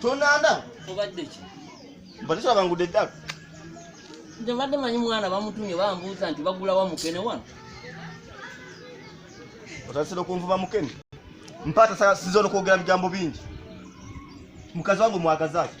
tonanda obadde ki mbadde tulaba ngudde eddalu nze mbadde manyi mwana bamutumye bambuuza nti bagulawa mukene wano otasira okunvuba mukene mpaata sasiza onokwogera bigambo bingi mukazi wange omwagazaki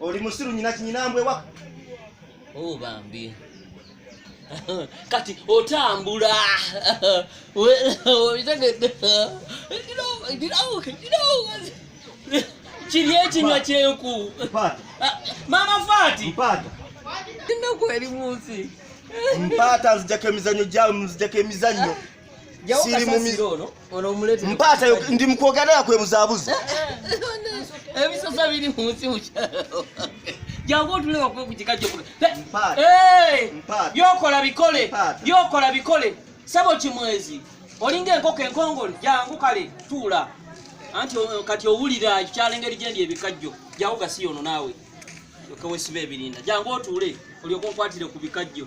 Oli musiru nyina kinyina mbwe wa. Oh bambi. Kati otambula. Obitegedde. Kiri ekinywa kyenku. Ah, Mama Fati. Mpata. Tinda kweli munsi. Mpata nzijako emizanyo gyawe nzijako emizanyo. Siri mu mizanyo. mpaata ndi mukwogerera kwebuzabuzi eh, eh, eh, ebisosa biri munsi mukyalo jangu otuleka kuba ku kika kyokula byokola bikole byokola bikole sabo kimwezi olinga enkoko enkongole jangu kale tuula anti kati owulira ekikyalo engeri gyendi ebikajjo jangu gasiyono naawe okewesiba ebirinda jangu otuule olyoka onkwatire ku bikajjo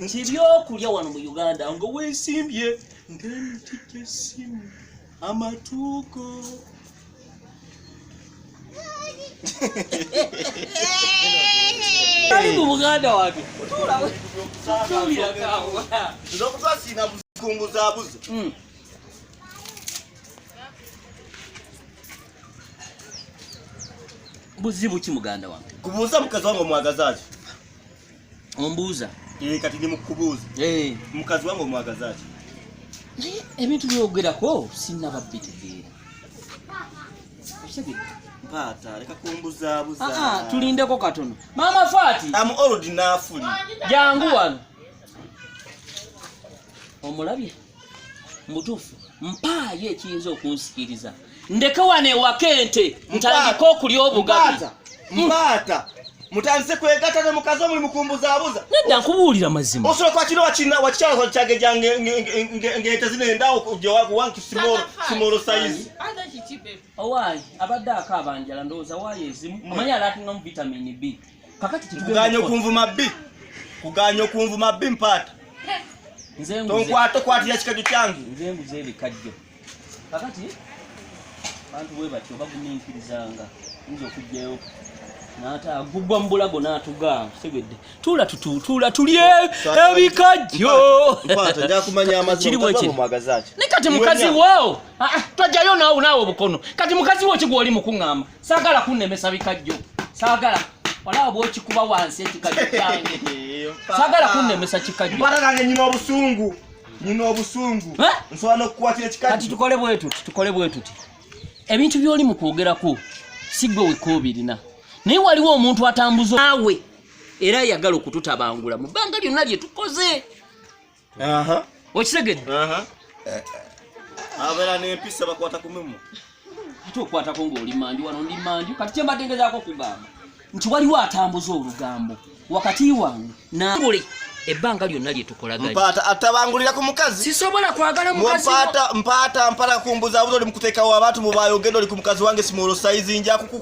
nti byokulya wano mu uganda nga wesimbye ngemiti gyesimu amatuuko ali mu buganda wange okutwasiina buzikunguzabuzi hmm. buzibu ki muganda wange kubuuza mukazi wange omwagazaaki ombuuza eh, kati ndi mukubuuza eh. mukazi wange omwagazaki naye ebintu byogerako sinaba bitegeera mpaata leka kumbuzabuza ah, ah, tulindeko katono maama fati amu oludi nafuli jangu wano omulabye mubutuufu mpaayo ekiyinza okunsikiriza ndeke wano ewaka ente ntandike okulya obugabi mbaata mutandise kwegata ne mukazi omuli mukumbuzabuza nedda nkubuulira mazima osobola kwakino wakina wakikyala kwakyagejja ng'ente zino endawo kuwankisimoro simoro sayizi owaayi abadde akaaba njala ndowooza waayo ezimu omanyi alaatungamu vitamini b kuganya okunvuma bbi kuganya okunvuma bbi mpaata tonkwata okwatira kikajjo kyange nze nguze ebikajjo kakati bantu bwe batyo baguminkirizanga yinza okugjayo agubwa mu bulago n'atuga tegedde tuula tututuula tulye ebikajjo ne kati mukazi wo ah, ah, twajjayo naawe naawe obukono kati mukazi wo kigwa oli mukuŋŋamba sagala kunemesa bikajjo sagala wala bwokikuba wansi ekikajjo kyange sagala kunemesa kikajjo bana nange nyina obusungu nyina obusungu eh? nsobola nokukwatira ekikajjo kati tukole bwetuti tukole bwetuti ebintu byoli mu kwogerako si gwe weka obirina naye waliwo omuntu atambuza naawe era ayagala okututabangula mu bbanga lyonna lye tukoze okitegedde eh, abeera nempisa bakwata kumimu ate okwatako ngaoli manju wano ndi manju kati kyembadde ngezaako okugamba nti waliwo atambuza olugambo wakati wange nabuli ebbanga lyonna lyetukolagaata atabangulira ku mukazi sisobola kwagala mpaata mpala kumbuzabuza oli mukutekawo abantu mubayogenda oli ku mukazi wange simwolosaizi njakuku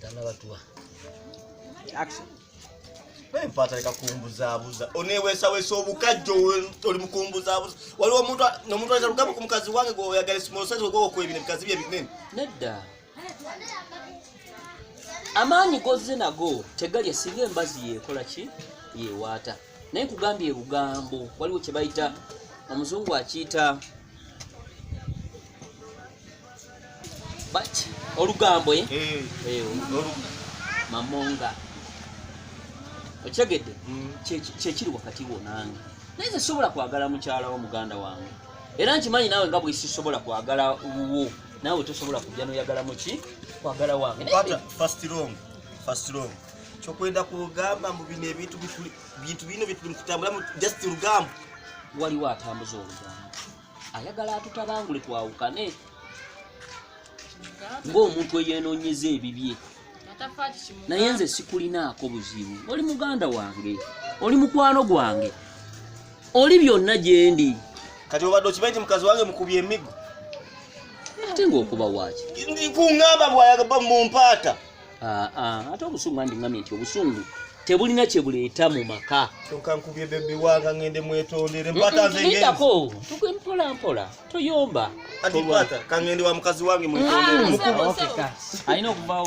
tanabatuwa empata leka kumbuzabuza onewesawesa obukajjo oli mukumbuzabuza waliwo omuntu nomuntu aza lugambo ku mukazi wange gwoyagala simosaizi ogwowokwebina ebikazi bye binene nedda amaanyi gozze nago tegalya singa embazi yekola ki yewaata naye nkugambye ebugambo waliwo kyebayita omuzungu akiyita but olugambo eh? Eh, eh, mamonga okitegedde mm. kyekiri wakati wo nange naye ze sobola kwagala mukyala wo muganda wange era nkimanyi naawe nga bwesisobola kwagala wuwo naawe tosobola kujja noyagala muki kwagala wange kyokwenda kugamba mu bino ebintu bintu bino byetuli mukutambulamu just lugambo waliwo atambuza olugambo ayagala atutabangule twawukane ng'omuntu eyeenoonyeza ebibye naye nze sikulinaako buzibu oli muganda wange oli mukwano gwange oli byonna gyendi kati obadde okimanyi nti mukazi wange mukubye emigo ate ngaokuba waaki kuŋamba bwayaga mumpaata Ah, ah, ate obusungu andi ngambye nti obusungu tebulina kyebuleeta mu maka tokankubye bebi wanga ngende mwetondere mpatazengako tuge mpola mpola toyomba atipata kangende wa mukazi wange mwetondere alina okuvawo